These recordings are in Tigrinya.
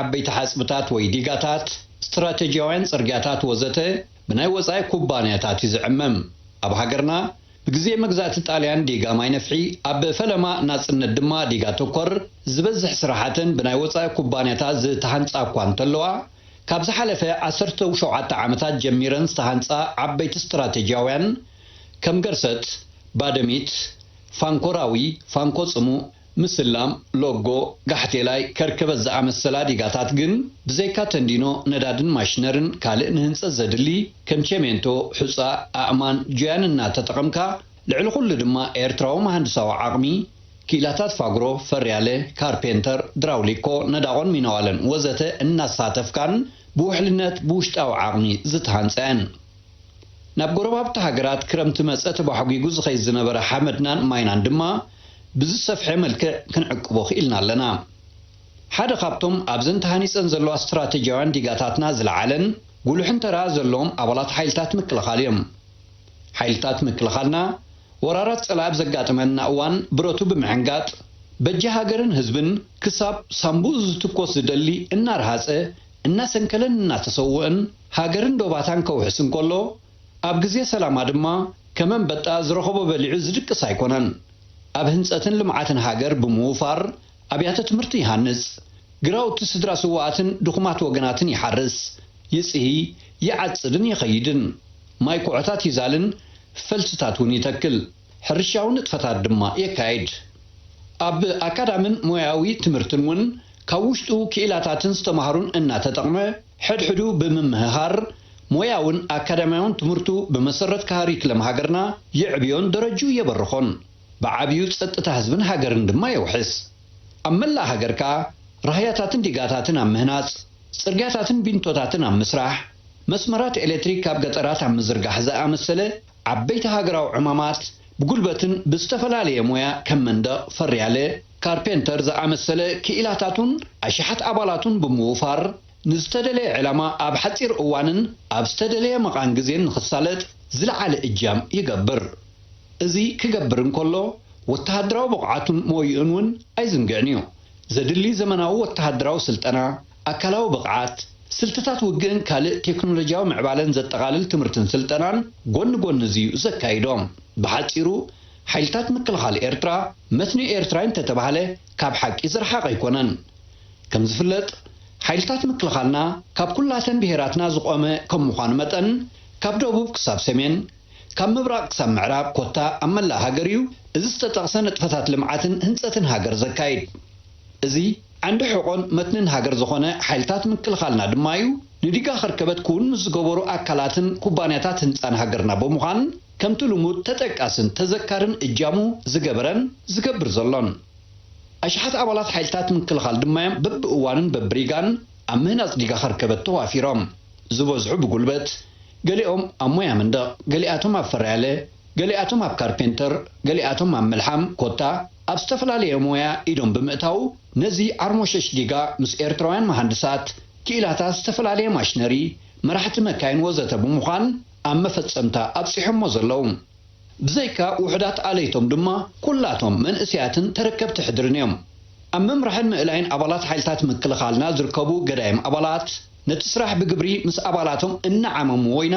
ዓበይቲ ሓጽብታት ወይ ዲጋታት፣ ስትራተጂያውያን ጽርግያታት ወዘተ ብናይ ወጻኢ ኩባንያታት እዩ ዝዕመም። ኣብ ሃገርና ብግዜ መግዛእቲ ጣልያን ዲጋ ማይ ነፍሒ፣ ኣብ ፈለማ ናጽነት ድማ ዲጋ ተኮር ዝበዝሕ ስራሓተን ብናይ ወጻኢ ኩባንያታት ዝተሃንጻ እኳ እንተለዋ፣ ካብ ዝሓለፈ ዓሰርተው ሸውዓተ ዓመታት ጀሚረን ዝተሃንጻ ዓበይቲ ስትራተጂያውያን ከም ገርሰት፣ ባደሚት፣ ፋንኮራዊ፣ ፋንኮ ጽሙእ፣ ምስላም፣ ሎጎ፣ ጋሕቴላይ፣ ከርከበት ዝኣመሰላ ዲጋታት ግን ብዘይካ ተንዲኖ ነዳድን ማሽነርን ካልእ ንህንጸት ዘድሊ ከም ቸሜንቶ፣ ሑጻ፣ ኣእማን፣ ጁያን እናተጠቐምካ ልዕሊ ኩሉ ድማ ኤርትራዊ መሃንድሳዊ ዓቕሚ፣ ክኢላታት ፋግሮ፣ ፈርያለ፣ ካርፔንተር፣ ድራውሊኮ፣ ነዳቖን ሚነዋለን ወዘተ እናሳተፍካን ብውሕልነት ብውሽጣዊ ዓቕሚ ዝተሃንጸ እየን። ናብ ጎረባብቲ ሃገራት ክረምቲ መጸ ተባሕጒጉ ዝኸይድ ዝነበረ ሓመድናን ማይናን ድማ ብዝሰፍሐ መልክዕ ክንዕቅቦ ክኢልና ኣለና። ሓደ ካብቶም ኣብዘን ተሃኒጸን ዘለዋ ስትራተጂያውያን ዲጋታትና ዝለዓለን ጉሉሕን ተራ ዘለዎም ኣባላት ሓይልታት ምክልኻል እዮም። ሓይልታት ምክልኻልና ወራራት ጸላኢ ኣብ ዘጋጥመና እዋን ብረቱ ብምዕንጋጥ በጃ ሃገርን ህዝብን ክሳብ ሳንቡኡ ዝትኮስ ዝደሊ እናረሃጸ እናሰንከለን እናተሰውእን ሃገርን ዶባታን ከውሕስ እንከሎ፣ ኣብ ግዜ ሰላማ ድማ ከም ኣንበጣ ዝረኸቦ በሊዑ ዝድቅስ ኣይኮነን። ኣብ ህንጸትን ልምዓትን ሃገር ብምውፋር ኣብያተ ትምህርቲ ይሃንጽ፣ ግራውቲ ስድራ ስዉኣትን ድኹማት ወገናትን ይሓርስ፣ ይጽሂ፣ ይዓጽድን ይኸይድን፣ ማይ ኮዖታት ይዛልን ፈልስታት እውን ይተክል። ሕርሻዊ ንጥፈታት ድማ የካይድ። ኣብ ኣካዳምን ሞያዊ ትምህርትን ውን ካብ ውሽጡ ክኢላታትን ዝተማህሩን እናተጠቕመ ሕድሕዱ ብምምህሃር ሞያውን ኣካዳምያውን ትምህርቱ ብመሰረት ካሪክለም ሃገርና የዕብዮን ደረጅኡ የበርኾን። ብዓብዩ ጸጥታ ህዝብን ሃገርን ድማ የውሕስ። ኣብ መላእ ሃገር ከኣ ራህያታትን ዲጋታትን ኣብ ምህናጽ፣ ጽርግያታትን ቢንቶታትን ኣብ ምስራሕ፣ መስመራት ኤሌክትሪክ ኣብ ገጠራት ኣብ ምዝርጋሕ ዝኣመሰለ ዓበይቲ ሃገራዊ ዕማማት ብጉልበትን ብዝተፈላለየ ሞያ ከም መንደቕ ፈርያለ፣ ካርፔንተር፣ ዝኣመሰለ ክኢላታቱን ኣሽሓት ኣባላቱን ብምውፋር ንዝተደለየ ዕላማ ኣብ ሓጺር እዋንን ኣብ ዝተደለየ መቓን ግዜን ንኽሳለጥ ዝለዓለ እጃም ይገብር። እዚ ክገብር እንከሎ ወተሃደራዊ ብቕዓቱን ሞይኡን እውን ኣይዝንግዕን'ዩ። ዘድሊ ዘመናዊ ወተሃደራዊ ስልጠና፣ ኣካላዊ ብቕዓት፣ ስልትታት ውግእን ካልእ ቴክኖሎጂያዊ ምዕባለን ዘጠቓልል ትምህርትን ስልጠናን ጎኒ ጎኒ እዚ'ዩ ዘካይዶ። ብሓጺሩ ሓይልታት ምክልኻል ኤርትራ መትኒ ኤርትራይ እንተተባህለ ካብ ሓቂ ዝረሓቐ ኣይኮነን። ከም ዝፍለጥ ሓይልታት ምክልኻልና ካብ ኩላተን ብሄራትና ዝቖመ ከም ምዃኑ መጠን ካብ ደቡብ ክሳብ ሰሜን፣ ካብ ምብራቕ ክሳብ ምዕራብ ኮታ ኣብ መላእ ሃገር'ዩ እዚ ዝተጠቕሰ ንጥፈታት ልምዓትን ህንጸትን ሃገር ዘካይድ። እዚ። ዓንዲ ሕቖን መትንን ሃገር ዝኾነ ሓይልታት ምክልኻልና ድማ'ዩ፣ ንዲጋ ከርከበት ክዉን ምስ ዝገበሩ ኣካላትን ኩባንያታት ህንጻን ሃገርና ብምዃን ከምቲ ልሙድ ተጠቃስን ተዘካርን እጃሙ ዝገበረን ዝገብር ዘሎን። ኣሽሓት ኣባላት ሓይልታት ምክልኻል ድማ'ዮም በብእዋኑን በብሪጋን ኣብ ምህናጽ ዲጋ ከርከበት ተዋፊሮም፣ ዝበዝሑ ብጉልበት፣ ገሊኦም ኣብ ሞያ መንደቕ፣ ገሊኣቶም ኣብ ፈራያለ፣ ገሊኣቶም ኣብ ካርፔንተር፣ ገሊኣቶም ኣብ ምልሓም ኮታ፣ ኣብ ዝተፈላለየ ሞያ ኢዶም ብምእታዉ ነዚ ዓርሞሸሽ ዲጋ ምስ ኤርትራውያን መሃንድሳት፣ ክኢላታት ዝተፈላለየ ማሽነሪ፣ መራሕቲ መካይን ወዘተ ብምዃን ኣብ መፈጸምታ ኣብጺሖሞ ዘለዉ። ብዘይካ ውሑዳት ኣለይቶም ድማ ኩላቶም መንእሰያትን ተረከብቲ ሕድርን እዮም። ኣብ ምምራሕን ምእላይን ኣባላት ሓይልታት ምክልኻልና ዝርከቡ ገዳይም ኣባላት ነቲ ስራሕ ብግብሪ ምስ ኣባላቶም እናዓመምዎ ኢና፣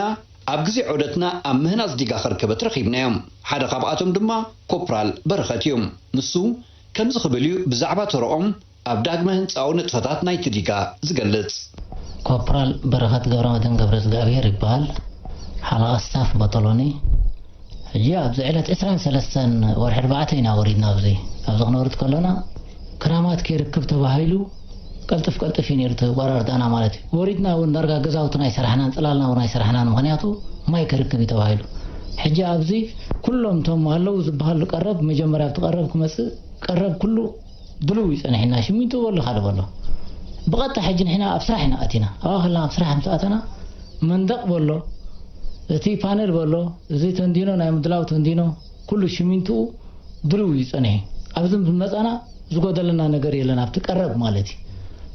ኣብ ግዜ ዑደትና ኣብ ምህናጽ ዲጋ ከርከበት ረኺብናዮም። ሓደ ካብኣቶም ድማ ኮፕራል በረኸት እዩ። ንሱ ከምዚ ክብል እዩ ብዛዕባ ተረኦም ኣብ ዳግመ ህንጻዊ ንጥፈታት ናይቲ ዲጋ ዝገልጽ። ኮፕራል በረኸት ገብረመድህን ገብረእዝግኣብሄር ይበሃል። ሓለቓ ስታፍ ቦጦሎኒ። ሕጂ ኣብዚ ዕለት ዕስራን ሰለስተን ወርሒ ኣርባዕተ ኢና ወሪድና ኣብዚ ኣብዚ ክንወርድ ከሎና ክራማት ከይርክብ ተባሂሉ ቀልጥፍ ቀልጥፍ እዩ ነይሩ እቲ ኣወራርዳና ማለት እዩ ወሪድና እውን ዳርጋ ገዛውትና ኣይሰራሕናን ጽላልና እውን ኣይሰራሕናን ምክንያቱ ማይ ከርክብ እዩ ተባሂሉ ሕጂ ኣብዚ ኩሎም እቶም ኣለዉ ዝበሃሉ ቀረብ መጀመርያ ኣብቲ ቀረብ ክመጽእ ቀረብ ኩሉ ድሉው እዩ ጸኒሕና ሽሚንቶ በሎ ካልእ በሎ ብቐጥታ ሕጂ ንሕና ኣብ ስራሕ ኢና ኣቲና ኣብኣ ከለና ኣብ ስራሕ ምስ ኣተና መንደቕ በሎ እቲ ፓነል በሎ እዚ ተንዲኖ ናይ ምድላው ተንዲኖ ኩሉ ሽሚንትኡ ድሉው እዩ ጸኒሑ ኣብዚ ምስ መጻና ዝጎደለና ነገር የለን ኣብቲ ቀረብ ማለት እዩ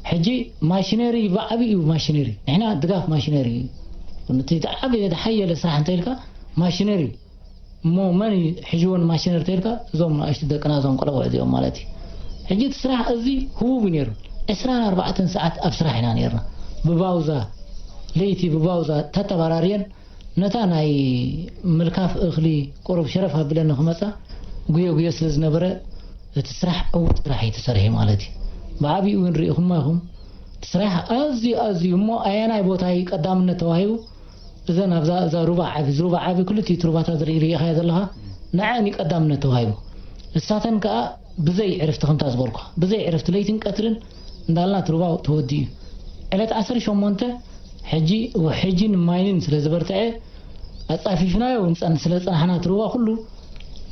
ሕጂ ማሽነሪ ብዓቢ እዩ ማሽነሪ ንሕና ድጋፍ ማሽነሪ እዩ እቲ ዝዓበየ ዝሓየለ ስራሕ እንተኢልካ ማሽነሪ እዩ እሞ መን እዩ ሒዥዎ ንማሽነሪ ተይልካ እዞም ናእሽቱ ደቅና እዞም ቆለብዑ እዚኦም ማለት እዩ ሕጂ እቲ ስራሕ ኣዝዩ ህቡብ እዩ ነይሩ ዕስራን ኣርባዕተን ሰዓት ኣብ ስራሕ ኢና ነይርና ብባውዛ ለይቲ ብባውዛ ተተባራርየን ነታ ናይ ምልካፍ እኽሊ ቁሩብ ሸረፍ ኣብለን ንክመጻ ጉየ ጉየ ስለ ዝነበረ እቲ ስራሕ ዕዉት ስራሕ እዩ ተሰሪሑ ማለት እዩ ብዓቢኡ ግን ሪኢኹማ ኢኹም እቲ ስራሕ ኣዝዩ ኣዝዩ እሞ ኣየናይ ቦታ እዩ ቀዳምነት ተዋሂቡ እዘን ኣብዛ እዛ ሩባ ዓቢ እዚ ሩባ ዓቢ ክልቲኡ እቲ ሩባታት ዝርኢ ሪኢኻዮ ዘለኻ ንዐኣን እዩ ቀዳምነት ተዋሂቡ ንሳተን ከኣ ብዘይ ዕርፍቲ ከምታ ዝበልኩኻ ብዘይ ዕርፍቲ ለይትን ቀትርን እንዳልና እቲ ሩባ ተወዲኡ እዩ ዕለት ዓሰርተ ሸሞንተ ሕጂ ውሕጅን ማይንን ስለ ዝበርትዐ ኣጻፊፍናዮ ንጸን ስለ ዝጸናሕና እቲ ሩባ ኩሉ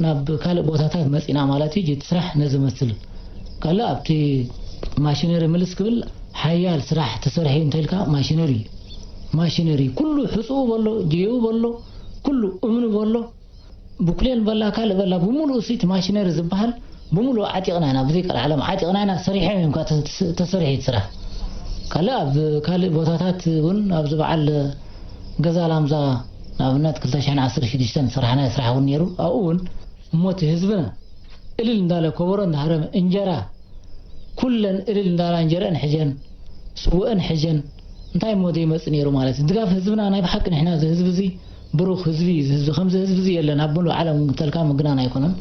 ናብ ካልእ ቦታታት መጺና ማለት እዩ እቲ ስራሕ ነዚ መስል ካለ ኣብቲ ማሽነሪ ምልስ ክብል ሓያል ስራሕ ተሰርሒ እንተልካ ማሽነሪ ማሽነሪ ኩሉ ሕጹኡ በሎ ጀዩ በሎ ኩሉ እምኑ በሎ ብኩሌን በላ ካልእ በላ ብምሉኡ እቲ ማሽነሪ ዝበሃል ብምሉኡ ዓጢቕና ኢና ብዘይ ቃል ዓለም ዓጢቕና ኢና ሰሪሖም እዮም ተሰርሒት ስራሕ ካልእ ኣብ ካልእ ቦታታት እውን ኣብዚ በዓል ገዛ ላምዛ ንኣብነት ክልተ ሽሕን ዓሰርተ ሽዱሽተን ዝሰራሕናዮ ስራሕ እውን ነይሩ ኣብኡ እውን እሞ እቲ ህዝብና እልል እንዳለ ኮቦሮ እንዳሃረመ እንጀራ ኩለን እልል እንዳላ እንጀረኣን ሕጀን ስወእን ሕጀን እንታይ እሞ ዘይመፅእ ነይሩ ማለት እዩ ድጋፍ ህዝብና ናይ ብሓቂ ንሕና እዚ ህዝቢ እዚ ብሩኽ ህዝቢ እዩ እዚ ህዝቢ ከምዚ ህዝቢ እዚ የለን ኣብ ምሉእ ዓለም እውን ተልካ ምግናን ኣይኮነን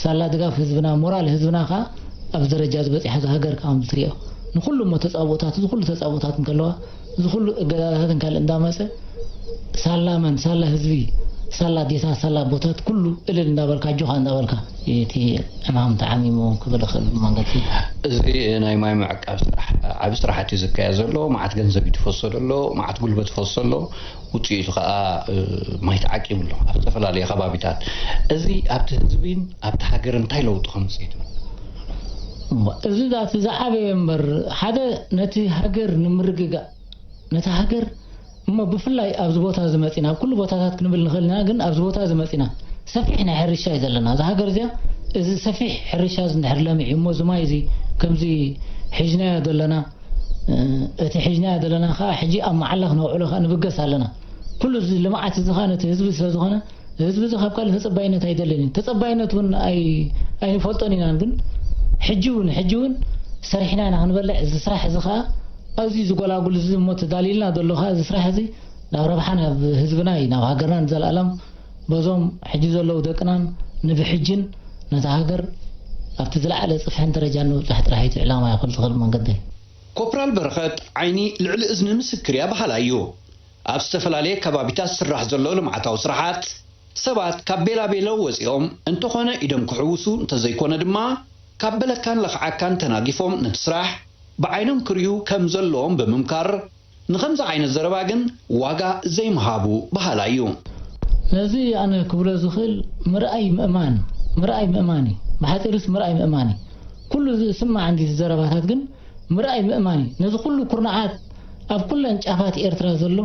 ሳላ ድጋፍ ህዝብና ሞራል ህዝብና ከዓ ኣብዚ ደረጃ እዚ በፂሓ እዛ ሃገር ከዓ ከምዚ ትሪኦ ንኩሉ እሞ ተፃብኦታት እዚ ኩሉ ተፃብኦታት እንከለዋ እዚ ኩሉ እገዳታትን ካልእ እንዳመጸ ሳላ መን ሳላ ህዝቢ ሳላ ኣዴታት ሳላ ኣቦታት ኩሉ እልል እንዳበልካ ኣጆኻ እንዳበልካ ኢዩ እቲ ዕማም ተዓሚሙ ክብል እኽእል ብመንገዲ እዚ ናይ ማይ ምዕቃብ ስራሕ ዓቢ ስራሕት እዩ ዝካየድ ዘሎ መዓት ገንዘብ እዩ ትፈሶ ደሎ መዓት ጉልበት ይፈሶ ኣሎ ውፅኢቱ ከዓ ማይ ተዓቂቡ ኣሎ ኣብ ዝተፈላለዩ ከባቢታት። እዚ ኣብቲ ህዝቢን ኣብቲ ሃገርን እንታይ ለውጢ ከምፅእ ትብሉ? እሞ እዚ ዛቲ ዝዓበየ እምበር ሓደ ነቲ ሃገር ንምርግጋእ ነታ ሃገር እሞ ብፍላይ ኣብዚ ቦታ እዚ መፂና ኣብ ኩሉ ቦታታት ክንብል ንኽእል ኢና ግን ኣብዚ ቦታ እዚ መፂና ሰፊሕ ናይ ሕርሻ እዩ ዘለና እዛ ሃገር እዚኣ እዚ ሰፊሕ ሕርሻ እዚ እንድሕር ለሚዑ እሞ እዚ ማይ እዚ ከምዚ ሒዝናዮ ዘለና እቲ ሒጅናዮ ዘለና ከኣ ሕጂ ኣብ መዓላ ክነውዕሎ ከኣ ንብገስ ኣለና። ኩሉ እዚ ልምዓት እዚ ከኣ ነቲ ህዝቢ ስለ ዝኾነ ህዝቢ እዚ ካብ ካልእ ተጸባይነት ኣይደልን እዩ። ተጸባይነት እውን ኣይንፈልጦን ኢናን ግን ሕጂ እውን ሕጂ እውን ሰሪሕና ኢና ክንበልዕ እዚ ስራሕ እዚ ከኣ ኣዝዩ ዝጎላጉል እዚ እሞ ተዳልዩልና ዘሎ ከኣ እዚ ስራሕ እዚ ናብ ረብሓ ናብ ህዝብና እዩ ናብ ሃገርና ንዘልኣለም በዞም ሕጂ ዘለዉ ደቅናን ንብሕጅን ነታ ሃገር ኣብቲ ዝለዓለ ጽፍሕን ደረጃን ንምብጻሕ ጥራሕ እዩ እቲ ዕላማይ ኣብ ክልተ ክል መንገደይ። ኮፕራል በረኸት፣ ዓይኒ ልዕሊ እዝኒ ምስክር እያ በሃላይ እዩ። ኣብ ዝተፈላለየ ከባቢታት ዝስራሕ ዘሎ ልምዓታዊ ስራሓት፣ ሰባት ካብ ቤላቤለው ወጺኦም እንተኾነ ኢዶም ክሕውሱ እንተዘይኮነ ድማ ካብ በለካን ለኽዓካን ተናጊፎም ነቲ ስራሕ ብዓይኖም ክሪኡ ከምዘለዎም ብምምካር፣ ንኸምዚ ዓይነት ዘረባ ግን ዋጋ ዘይምሃቡ በሃላይ እዩ። ነዚ ኣነ ክብሎ ዝኽእል ምርኣይ ምእማን ምርኣይ ምእማን እዩ። ብሓጺሩስ ምርኣይ ምእማን እዩ። ኩሉ እዚ ዝስማዕ እንዲዚ ዘረባታት ግን ምርኣይ ምእማን እዩ። ነዚ ኩሉ ኩርናዓት ኣብ ኩለን ጫፋት ኤርትራ ዘሎ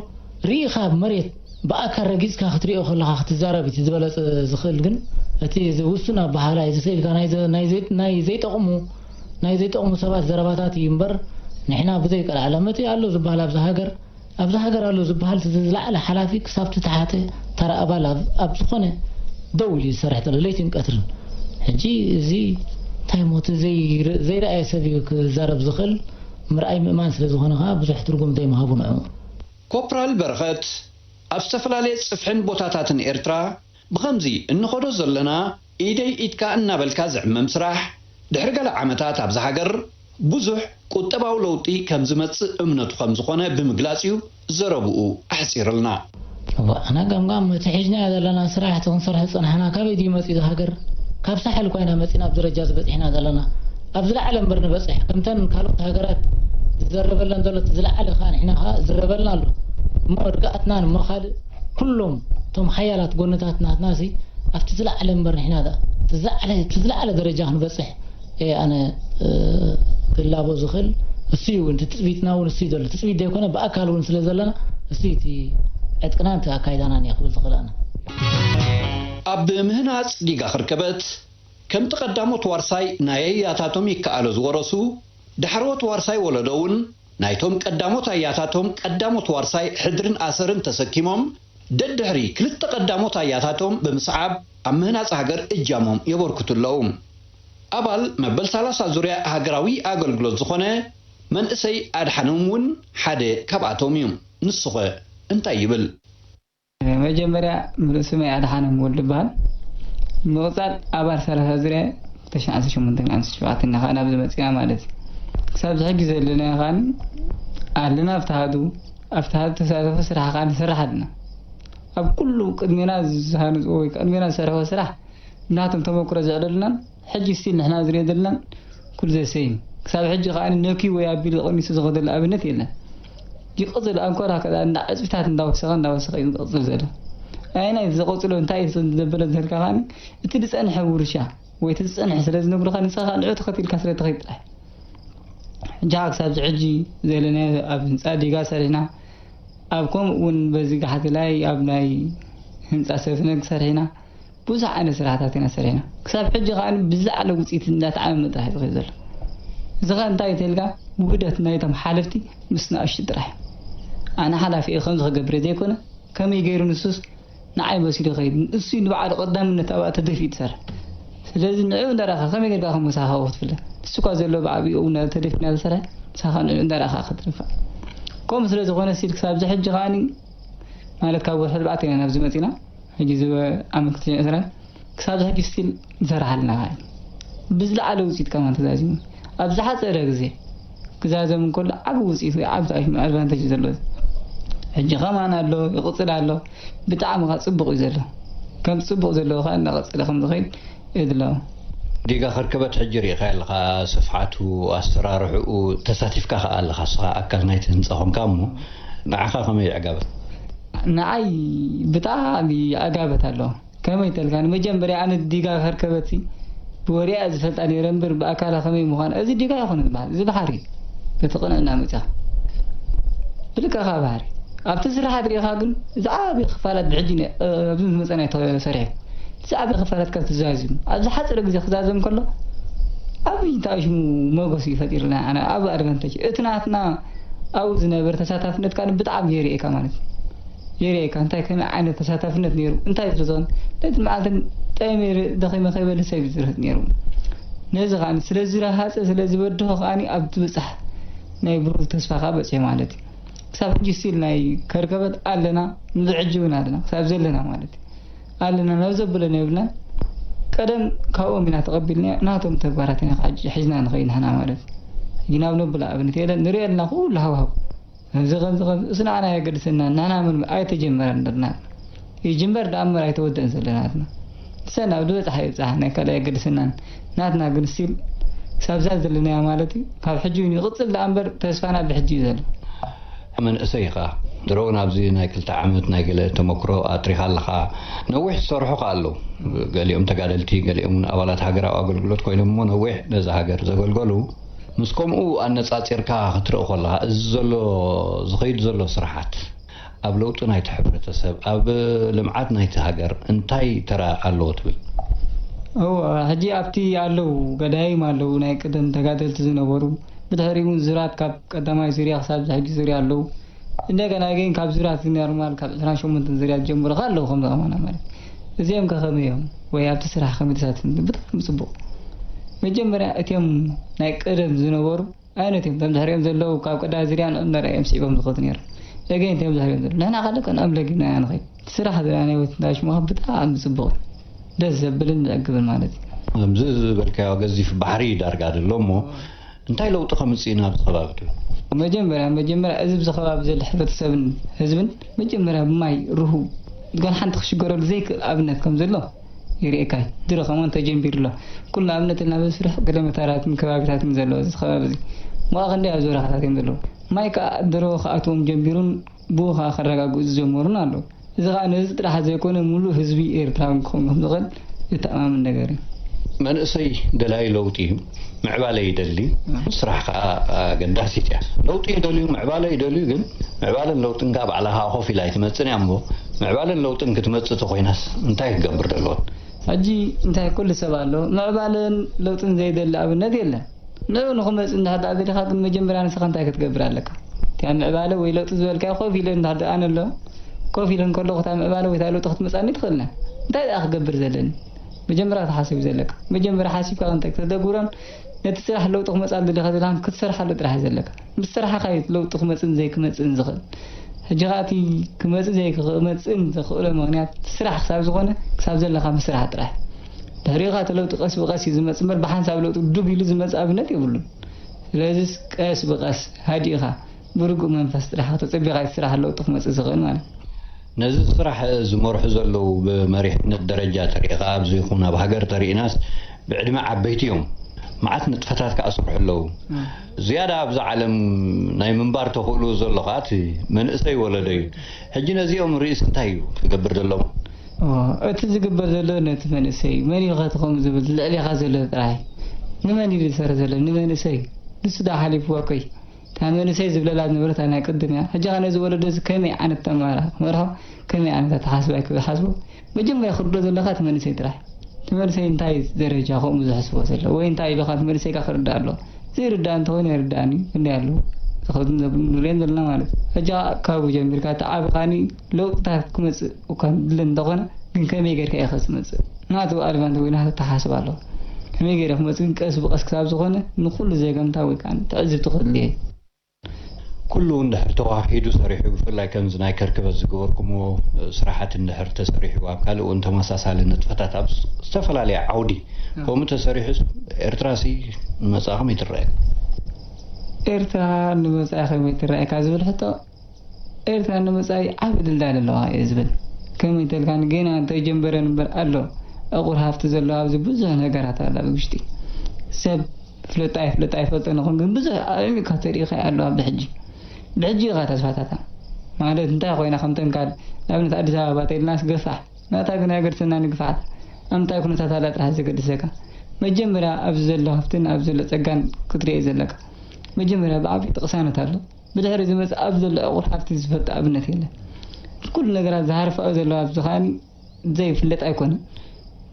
ርኢኻ ኣብ መሬት ብኣካል ረጊጽካ ክትሪኦ ከለኻ ክትዛረብ እቲ ዝበለጸ ዝኽእል ግን እቲ እዚ ውሱን ኣበሃህላ እዩ። እዚ ስእልካ ናይ ናይ ዘይጠቕሙ ናይ ዘይጠቕሙ ሰባት ዘረባታት እዩ እምበር ንሕና ብዘይ ቀልዓለም እቲ ኣሎ ዝብሃል ኣብዛ ሃገር ኣብዛ ሃገር ኣሎ ዝብሃል እቲ ዝለዓለ ሓላፊ ክሳብ እቲ ተሓተ ተራ ኣባል ኣብ ኣብ ዝኾነ ደው ኢሉ እዩ ዝሰርሕ ዘሎ ለይትን ቀትርን ሕጂ እዚ እንታይ እሞ እቲ ዘይርእ ዘይረኣየ ሰብ እዩ ክዛረብ ዝኽእል ምርኣይ ምእማን ስለ ዝኾነ ከኣ ብዙሕ ትርጉም ዘይምሃቡ ንዑ ኮፕራል በረኸት ኣብ ዝተፈላለየ ጽፍሕን ቦታታትን ኤርትራ ብኸምዚ እንኸዶ ዘለና ኢደይ ኢድካ እናበልካ ዝዕመም ስራሕ፣ ድሕሪ ገለ ዓመታት ኣብዛ ሃገር ብዙሕ ቁጠባዊ ለውጢ ከም ዝመጽእ እምነቱ ከም ዝኾነ ብምግላጽ'ዩ ዘረብኡ ኣሕጺርልና። እዋእ ኣነ ገምጋም እቲ ሒዝናዮ ዘለና ስራሕ እቲ ክንሰርሖ ዝጸናሕና ካበይ ድዩ መጺኡ እዛ ሃገር ካብ ሳሕል ኮይና መጺና ኣብዚ ደረጃ እዚ በጺሕና ዘለና ኣብ ዝለዓለ እምበር ንበጽሕ ከምተን ካልኦት ሃገራት ዝዘረበለን ዘሎ እቲ ዝለዓለ ከኣ ንሕና ከኣ ዝዝረበልና ኣሎ እሞ ርግኣትናን እሞ ካልእ ኩሎም እቶም ሓያላት ጎንታት ናትናሲ ኣብቲ ዝለዓለ እምበር ንሕና ድኣ ትዝዓለ ትዝለዓለ ደረጃ ክንበጽሕ እየ ኣነ ክላቦ ዝኽእል እሱ እዩ እቲ ትጽቢትና እውን እሱ እዩ ዘሎ ትጽቢት ዘይኮነ ብኣካል እውን ስለ ዘለና እሱ እዩ እቲ ዕጥቅናን እቲ ኣካይዳናን እየ ክብል ዝኽእል ኣነ ኣብ ምህናጽ ዲጋ ክርከበት ከምቲ ቀዳሞት ዋርሳይ ናይ ኣያታቶም ይከኣሎ ዝወረሱ ዳሕረዎት ዋርሳይ ወለዶ እውን ናይቶም ቀዳሞት ኣያታቶም ቀዳሞት ዋርሳይ ሕድርን ኣሰርን ተሰኪሞም ደድሕሪ ክልተ ቀዳሞት ኣያታቶም ብምስዓብ ኣብ ምህናጽ ሃገር እጃሞም የበርክቱ ኣለዉ። ኣባል መበል ሰላሳ ዙርያ ሃገራዊ ኣገልግሎት ዝኾነ መንእሰይ ኣድሓኖም እውን ሓደ ካብኣቶም እዩ። ንሱኸ እንታይ ይብል? መጀመርያ ምሉእ ስመይ ኣድሓኖም ወልዱ እበሃል። ብምቕጻል ኣባል ሰላሳ ዝርያ እየ። ካብ ተሽዓተ ዓሰርተ ሸሞንተ ክሳብ ዓሰርተ ሸውዓተ ኢና ከኣ ናብዚ መጺእና ማለት እዩ። ክሳብ እዚ ሕጂ ዘለናዮ ከኣ ኣለና ኣብቲ ኣሃዱ። ኣብቲ ኣሃዱ ተሳተፎ ስራሕ ከኣ ንሰርሕ ኣለና። ኣብ ኩሉ ቅድሜና ዝሃንጽዎ ወይ ቅድሜና ዝሰርሕዎ ስራሕ ብናቶም ተመኩሮ ዘዕለሉናን፣ ሕጂ ስቲል ንሕና ዝርኤ ዘለና ኩሉ ዘ ሰይም ክሳብ ሕጂ ከኣ ነክዩ ወይ ኣቢሉ ቐኒሱ ዝኸደሉ ኣብነት የለን ይቕጽል ኣንኮር ኣከላ እንዳ ዕጽፍታት እንዳ ወሰኸ እንዳ ወሰኸ እዩ ዝቕጽል ዘሎ ኣየናይ እቲ ዘቐጽሎ እንታይ እቲ ዘበለ እንተልካ ከኣ እቲ ዝጸንሐ ውርሻ ወይ እቲ ዝጸንሐ ስለ ዝነግሩኻ ንስኻ ከኣ ንዑ ተኸቲልካ ስለ ትኸይድ ጥራይ ሕጂ ከኣ ክሳብ ዝሕጂ ዘለናዮ ኣብ ህንጻ ዲጋ ሰሪሕና ኣብ ከምኡ እውን በዚ ጋሕቲ ላይ ኣብ ናይ ህንጻ ሰፍነግ ሰሪሕና ብዙሕ ዓይነት ስራሕታት ኢና ሰሪሕና። ክሳብ ሕጂ ከኣ ብዝለዓለ ውጽኢት እንዳተዓመመ ጥራሕ እዩ ዝኸይድ ዘሎ። እዚ ከኣ እንታይ እዩ ተልካ ውህደት ናይቶም ሓለፍቲ ምስ ንኣሽቱ ጥራሕ እዩ። ኣነ ሓላፊ እየ ከምዚ ክገብር እየ ዘይኮነ ከመይ ገይሩ ንሱስ ንዓይ መሲሉ ይኸይድ ንሱ እዩ ንባዕሉ ቀዳምነት ኣብኣ ተደፊኡ ዝሰርሕ ስለዚ ንዕኡ እንዳረኣኻ ከመይ ገይርካ ከም ምሳኻ ክትፍለ ንሱኳ ዘሎ ብዓቢኡ ተደፊኡ እናተሰርሐ ምሳኻ ንዕኡ እንዳረኣኻ ክትድፋእ ከምኡ ስለዝኾነ ሲል ክሳብ ዝሕጂ ከኣ ማለት ካብ ወርሒ ኣርባዕተ ኢና ናብዚ መጺና ሕጂ እዚ ኣመልኪቱ ንዕዝራ ክሳብ ሕጂ still ዝሰርሓልና እዩ ብዝለዓለ ውጺኢት ከማን ተዛዚሙ ኣብ ዝሓጸረ ግዜ ክዛዘም እንከሎ ዓቢ ውጺኢት ወይ ዓቢ ኣድቫንተጅ እዩ ዘሎ ሕጂ ከማን ኣሎ ይቕጽል ኣሎ ብጣዕሚ ከኣ ጽቡቕ እዩ ዘሎ ከም ጽቡቕ ዘለዎ ከኣ እናቐጸለ ከም ዝኸይድ እብሎ። ጌጋ ከርከበት ሕጂ ሪኢኻዮ ኣለኻ ስፍሓቱ ኣሰራርሕኡ ተሳቲፍካ ከኣ ኣለኻ እስኻ ኣካል ናይቲ ህንጻ ኮንካ እሞ ንዓኻ ከመይ ይዕጋበት? ንዓይ ብጣዕሚ ይዕጋበት ኣሎ ከመይ ተልካ ንመጀምርያ ኣነ ዲጋ ከርከበትሲ ብወሬ እየ ዝፈልጣ ነይረ እምብር ብኣካላ ከመይ ምዃና እዚ ዲጋ ኣይኮነን ዝበሃል እዚ ብሓሪ በቲ ቅንዕና መጺኻ ብልክዕኻ ብሓሪ ኣብቲ ስራሓት ሪኢኻ ግን ዝዓበየ ክፋላት ብሕጂ ኣብዚ ዝመጸና ተሰሪሑ ሳዕቤን ክፋላትካ ትዛዝም ኣብ ዝሓጸረ ግዜ ክዛዘም ከሎ ዓቢ እንታይ እዩ ሽሙ ሞጎስ እዩ ፈጢርልና ኣነ ዓቢ ኣድቫንተጅ እቲ ናትና ኣብኡ ዝነበረ ተሳታፍነት ካን ብጣዕሚ የርእየካ ማለት እዩ የርእየካ እንታይ ከመይ ዓይነት ተሳታፍነት ነይሩ እንታይ ዝርዞን ነቲ መዓልትን ጠይመ ደኺመ ከይበልህ ሰብ እዩ ዝርህጥ ነይሩ ነዚ ከኣ ስለ ዝረሃጸ ስለ ዝበድሆ ከኣ ኣብ ትብጻሕ ናይ ብሩህ ተስፋ ከኣ በጽሔ ማለት እዩ ክሳብ ሕጂ ስቲል ናይ ከርከበት ኣለና ንዝሕጂ እውን ኣለና ክሳብ ዘለና ማለት እዩ ኣለና ናብ ዘብለና የብልናን ቀደም ካብኦም ኢና ተቐቢልና ናቶም ተግባራት ኢና ክዓጅ ሒዝና ንኸይድ ንሕና ማለት ግን ኣብ ነብላ ኣብነት የለን ንሪኦ ኣለና ኩሉ ሃብሃብ እዚ ከምዚ ከምዚ እሱ ንዓና የገድሰና ንሕና ምን ኣይተጀመረን ንርና ይጅምበር ደኣ እምበር ኣይተወደእን ዘለናትና ንሰን ኣብ ዝበፅሓ ይብፅሓ ናይ ካልእ ኣይገድሰናን ናትና ግን still ክሳብ እዛ ዘለናያ ማለት እዩ ካብ ሕጂ ውን ይቅጽል ደኣ እምበር ተስፋና ብሕጂ እዩ ዘሎ። መንእሰይ ኢኻ ድሮውን ኣብዚ ናይ ክልተ ዓመት ናይ ገለ ተመክሮ ኣጥሪኻ ኣለኻ ነዊሕ ዝሰርሑኻ ኣለው ገሊኦም ተጋደልቲ ገሊኦም ውን ኣባላት ሃገራዊ ኣገልግሎት ኮይኖም እሞ ነዊሕ ነዛ ሃገር ዘገልገሉ ምስ ከምኡ ኣነጻጺርካ ክትርኢ ኮለኻ እዚ ዘሎ ዝኸይድ ዘሎ ስርሓት ኣብ ለውጢ ናይቲ ሕብረተሰብ ኣብ ልምዓት ናይቲ ሃገር እንታይ ተራ ኣለዎ ትብል? እወ ሕጂ ኣብቲ ኣለው ገዳይም ኣለው ናይ ቀደም ተጋደልቲ ዝነበሩ ብድሕሪኡ ውን ዙራት ካብ ቀዳማይ ዙርያ ክሳብ እዚ ሕጂ ዙርያ ኣለው እንደገና ግን ካብ ዙራት እዚ ኖርማል ካብ ዕስራን ሸሞንተን ዙርያ ዝጀምሩ ከ ኣለው ከምዚ ከማና ማለት እዚኦም ከ ከመይ እዮም ወይ ኣብቲ ስራሕ ከመይ ተሳቲፎም ብጣዕሚ ጽቡቅ መጀመርያ እቲኦም ናይ ቀደም ዝነበሩ ኣይነት እዮም እቶም ዝሕርዮም ዘለዉ ካብ ቅዳ ዝርያ ንኦም ነርኣ እዮም ስዒቦም ዝኸዱ ነይሮም ኤገይ እንታይ እዮም ዝሕርዮም ዘለዉ ንሕና ካልእ ከንኦም ለጊብና ኢና ንኸይድ እቲ ስራሕ እዚ ናይ ናይወት እንዳሽሙኻ ብጣዕሚ ጽቡቕ እዩ ደስ ዘብልን ዘዕግብን ማለት እዩ ከምዚ ዝበልካዮ ገዚፍ ባሕሪ እዩ ዳርጋ ዘሎ እሞ እንታይ ለውጢ ከምጽእና ኣብዚ ከባቢ ትብል? መጀመርያ መጀመርያ እዚ ብዚ ከባቢ ዘሎ ሕብረተሰብን ህዝብን መጀመርያ ብማይ ርሁው ጋል ሓንቲ ክሽገረሉ ዘይክእል ኣብነት ከምዘሎ ይርእየካ እዩ ድሮ ከምኡውን ተጀምቢሩ ኣሎ ኩሉ ኣብነት ልና በስርሕ ገደመታራትን ከባቢታትን ዘለዎ እዚ ከባቢ እዚ ዋኣ ክንደይ ኣብ ዝበረኻታት እዮም ዘለዉ ማይ ካኣ ድሮ ክኣትዎም ጀምቢሩን ብኡ ካኣ ከረጋግኡ ዝጀመሩን ኣለዉ እዚ ካኣ ነዚ ጥራሕ ዘይኮነ ሙሉእ ህዝቢ ኤርትራዊ ክኸውን ከምዝኽእል ዘተኣማምን ነገር እዩ። መንእሰይ ደላይ ለውጢ እዩ። ምዕባለ ይደሊ ስራሕ ከኣ ኣገዳሲት እያ ለውጢ ይደልዩ ምዕባለ ይደልዩ ግን ምዕባለን ለውጥን ከኣ ባዕላ ከኣ ኮፍ ኢላ ኣይትመጽን እያ እሞ ምዕባለን ለውጥን ክትመጽእ ተኮይናስ እንታይ ክገብር ደለዎን ሕጂ እንታይ ኩሉ ሰብ ኣሎ ምዕባለን ለውጥን ዘይደሊ ኣብነት የለን ንዑ ንክመጽእ እንድሕር ደኣ ደሊካ ግን መጀመርያ ንስካ እንታይ ክትገብር ኣለካ እታ ምዕባለ ወይ ለውጢ ዝበልካዮ ኮፍ ኢለን እንድሕር ደኣ ኣነ ኣሎ ኮፍ ኢለን ከለኩ እታ ምዕባለ ወይ እታ ለውጢ ክትመጻኒ ትክእልና እንታይ ደኣ ክገብር ዘለኒ መጀመርያ ክትሓስብ እዩ ዘለካ መጀመርያ ሓሲብካ ክንታይ ክተተግብሮን ነቲ ስራሕ ለውጢ ክመጻሉ ድዩ ከዘይልካን ክትሰርሓሉ ጥራሕ እዩ ዘለካ ምስ ሰራሕካ እዩ ለውጢ ክመጽእን ዘይክመጽእን ዝኽእል ሕጂ ከኣ እቲ ክመጽእ ዘይክመጽእን ዘኽእሎ ምኽንያት ስራሕ ክሳብ ዝኾነ ክሳብ ዘለካ ምስራሕ ጥራሕ እዩ ድሕሪኡ ከኣ እቲ ለውጢ ቀስ ብቀስ እዩ ዝመጽእ እምበር ብሓንሳብ ለውጢ ዱብ ኢሉ ዝመጽእ ኣብነት የብሉን ስለዚስ ቀስ ብቀስ ሃዲእካ ብርጉእ መንፈስ ጥራሕ ኣቶ ጸቢቅ ኣይትስራሕ ለውጢ ክመጽእ ዝኽእል ማለት። ነዚ ስራሕ ዝመርሑ ዘለዉ ብመሪሕነት ደረጃ ተሪእኻ ኣብ ዘይኹን ኣብ ሃገር ተሪእናስ ብዕድመ ዓበይቲ እዮም መዓት ንጥፈታት ከኣ ዝሰርሑ ኣለዉ ዝያዳ ኣብዛ ዓለም ናይ ምንባር ተኽእልኡ ዘሎ ከኣ እቲ መንእሰይ ወለዶ እዩ ሕጂ ነዚኦም ርእስ እንታይ እዩ ክገብር ዘለዎ እቲ ዝግበር ዘሎ ነቲ መንእሰይ እዩ መን ኢልኸ ትኸም ዝብል ልዕሌኻ ዘሎ ጥራይ ንመን እዩ ዝሰርሕ ዘሎ ንመንእሰይ እዩ ንሱ ዶ ሓሊፍዎ ኮይ እታ መንእሰይ ዝብለላ ዝነበረት ናይ ቅድም እያ ሕጂ ከኣ ነዚ ወለዶ እዚ ከመይ ዓይነት ኣመራርሓ ክመርሖ ከመይ ዓይነት ኣተሓስባ እዩ ክሓስቦ መጀመርያ ክርዶ ዘለካ እቲ መንእሰይ ጥራሕ እቲ መንእሰይ እንታይ እዩ ደረጃ ከምኡ ዝሕስቦ ዘሎ ወይ እንታይ ኢልካ እቲ መንእሰይ ከ ክርዳእ ኣለዎ ዘይርዳእ እንተኮይኑ ኣይርዳእን እዩ ክንደይ ኣለዉ ንሪኦም ዘለና ማለት ሕጂ ከኣ ካብኡ ጀሚርካ እቲ ዓቢ ካኒ ለውጥታት ክመጽእ እኳ ዝድለ እንተኾነ ግን ከመይ ጌርካ ኢኸ ዝመጽእ? ናቱ ኣድቫንት ወይ ናቱ ኣተሓሳስባ ኣለዎ። ከመይ ጌረ ክመጽእ ግን ቀስ ብቐስ ክሳብ ዝኾነ ንኹሉ ዘገምታ ወይ ከኣ ትዕዝብቲ ከድልዮ እዩ። ኩሉ እንድሕር ተወሃሂዱ ሰሪሑ ብፍላይ ከምዚ ናይ ከርክበት ዝገበርኩምዎ ስራሓት እንድሕር ተሰሪሑ ኣብ ካልእ እውን ተመሳሳሊ ንጥፈታት ኣብ ዝተፈላለየ ዓውዲ ከምኡ ተሰሪሑስ ኤርትራሲ ንመጻኢ ከመይ ትረኣየኩም? ኤርትራ ንመጻኢ ከመይ ትረኣየካ ዝብል ሕቶ ኤርትራ ንመጻኢ ዓቢ ድልዳል ኣለዋ እየ ዝብል። ከመይ ተልካ ንጌና እንተይጀምበረን እምበር ኣሎ ዕቑር ሃፍቲ ዘለዋ ኣብዚ ብዙሕ ነገራት ኣሎ ኣብ ውሽጢ። ሰብ ይፍለጦ ኣይፍለጦ ኣይፈልጦን ይኹን ግን ብዙሕ ኣዕሚቕካ ተሪኢኻዮ ኣለዋ ብሕጂ። ብሕጂ ኢኻ ተስፋታታ ማለት እንታይ ኮይና ከምተን ካል ንኣብነት ኣዲስ ኣበባ ተኢልናስ ገፋሕ ናታ ግን ኣይገድሰና ንግፍዓት ኣምንታይ ኩነታት ኣላ ጥራሕ ዘገድሰካ። መጀመርያ ኣብዚ ዘሎ ሃፍትን ኣብዚ ዘሎ ጸጋን ክትሪኤ ዘለካ። መጀመርያ ብዓቢኡ እቲ ቅሳነት ኣሎ። ብድሕሪ ዝመጽእ ኣብ ዘሎ ዕቑር ሃብቲ ዝፈልጦ ኣብነት የለን። እቲ ኩሉ ነገራት ዝሃርፋኦ ዘሎ ሃብቲ ከኣ ዘይፍለጥ ኣይኮነን።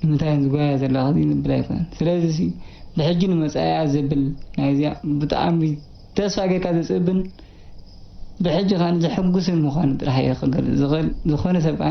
ንምንታይ እየን ዝጓየያ ዘለዋ ከዚ ንብል ኣይኮነን። ስለዚሲ ብሕጂ ንመጻኢኣ ዝብል ናይዚኣ ብጣዕሚ ተስፋ ጌርካ ዘጽብብን ብሕጂ ከኣ ዘሕጉስን ምዃኑ ጥራሕ እየ ክገልጽ ዝኽእል። ዝኾነ ሰብ ከኣ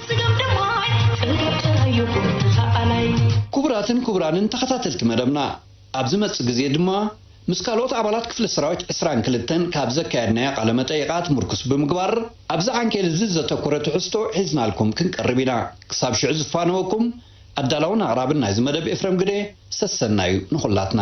ክቡራትን ክቡራንን ተኸታተልቲ መደብና ኣብ ዝመጽእ ግዜ ድማ ምስ ካልኦት ኣባላት ክፍሊ ሰራዊት ዕስራን ክልተን ካብ ዘካየድናዮ ቃለ መጠይቓት ምርኩስ ብምግባር ኣብዚ ዓንኬል እዚ ዘተኮረ ትሕዝቶ ሒዝናልኩም ክንቀርብ ኢና ክሳብ ሽዑ ዝፋነወኩም ኣዳላውን ኣቕራብን ናይዚ መደብ ኤፍረም ግደ ሰሰናዩ ንኹላትና።